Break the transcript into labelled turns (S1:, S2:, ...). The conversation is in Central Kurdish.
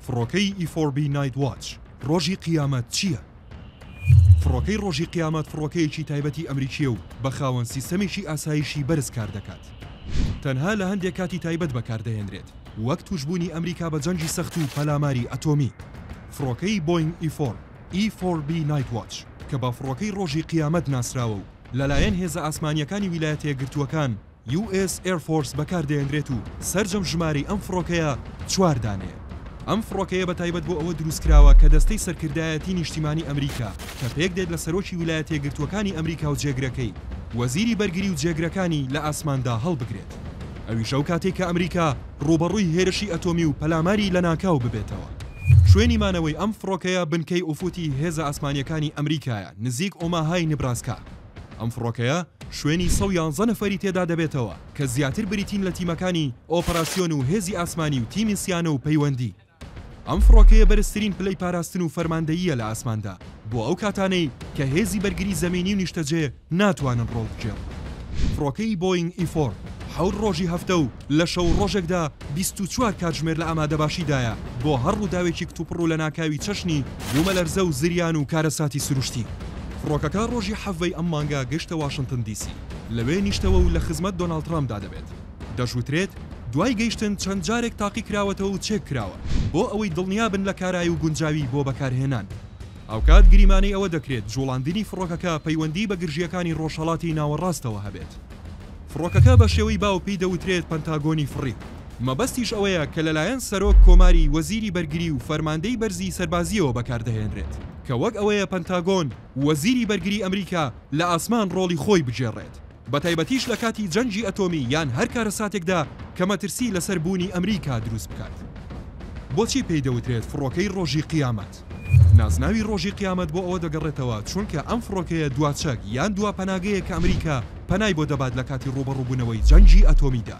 S1: فڕۆکەی ئیفۆربی نایت واچ ڕۆژی قیامەت چییە؟ فڕۆکەی ڕۆژی قیامەت فڕۆکەیەکی تایبەتی ئەمریکییە و بە خاوەن سیستەمێکی ئاسایشی بەرز کاردەکات. تەنها لە هەندێک کاتی تایبەت بەکاردەهێنرێت، وەک تووشبوونی ئەمریکا بە جەنگی سەخت و پەلاماری ئەتۆمی. فڕۆکەی بۆینگ ئیفۆر، E-4B Nightwatch، کە بە فڕۆکەی ڕۆژی قیامەت ناسراوە و لەلایەن هێزە ئاسمانییەکانی ویلایەتە یەکگرتووەکان، یو ئێس ئێر فۆرس بەکاردەهێنرێت و سەرجەم ژمارەی ئەم فڕۆکەیە چوار دانەیە. ئەم فڕۆکەیە بەتایبەت بۆ ئەوە دروستکراوە کە دەستەی سەرکردایەتی نیشتیمانی ئەمریکا کە پێکدێت لە سەرۆکی ولایەتە یەکگرتووەکانی ئەمریکا و جێگرەکەی وەزیری بەرگری و جێگرەکانی لە ئاسماندا هەڵبگرێت ئەویش ئەو کاتەی کە ئەمریکا ڕووبەڕووی هێرشی ئەتۆمی و پەلاماری لەناکاو ببێتەوە. شوێنی مانەوەی ئەم فڕۆکەیە بنکەی ئوفوتی هێزە ئاسمانییەکانی ئەمریکایە نزیک ئۆماهای نبراسکا. ئەم فڕۆکەیە شوێنی سەد و یازدە نەفەری تێدا دەبێتەوە کە زیاتر بریتین لە تیمەکانی ئۆپەراسیۆن و هێزی ئاسمانی و تیمی سیانە و پەیوەندی. ئەم فڕۆکەیە بەرزترین پلەی پاراستن و فەرماندەییە لە ئاسماندا بۆ ئەو کاتانەی کە هێزی بەرگری زەمینی و نیشتەجێ ناتوانن ڕۆڵ بگێڕن. فڕۆکەی بۆینگ ئی فۆر حەوت ڕۆژی هەفتە و لە شەو و ڕۆژێکدا بیست و چوار کاتژمێر لە ئامادەباشیدایە بۆ هەر ڕووداوێکی کتوپڕ و لەناکاوی چەشنی بوومەلەرزە و زریان و کارەساتی سروشتی. فڕۆکەکە ڕۆژی حەڤەی ئەم مانگە گەشتە واشنتن دی سی، لەوێ نیشتەوە و لە خزمەت دۆناڵد ترەمپدا دەبێت. دەشوترێت دوای گەیشتن چەند جارێک تاقیکراوەتەوە و چێککراوە بۆ ئەوەی دڵنیابن لە کارایی و گونجاوی بۆ بەکارهێنان. هاوکات گریمانەی ئەوە دەکرێت جوڵاندنی فڕۆکەکە پەیوەندی بە گرژییەکانی ڕۆژهەڵاتی ناوەڕاستەوە هەبێت. فڕۆکەکە بە شێوەی باو پێی دەوترێت پەنتاگۆنی فڕی، مەبەستیش ئەوەیە کە لەلایەن سەرۆک کۆماری، وەزیری بەرگری و فەرماندەی بەرزی سەربازییەوە بەکاردەهێنرێت، کە وەک ئەوەیە پەنتاگۆن، وەزیری بەرگری ئەمریکا، لە ئاسمان ڕۆڵی خۆی بگێڕێت. بەتایبەتیش لە کاتی جەنگی ئەتۆمی یان هەر کارەساتێکدا کە مەترسی لەسەر بوونی ئەمریکا دروست بکات. بۆچی پێی دەوترێت فڕۆکەی ڕۆژی قیامەت؟ نازناوی ڕۆژی قیامەت بۆ ئەوە دەگەڕێتەوە چونکە ئەم فڕۆکەیە دوا چەک یان دوا پەناگەیە کە ئەمریکا پەنای بۆ دەبات لە کاتی ڕووبەڕووبوونەوەی جەنگی ئەتۆمیدا.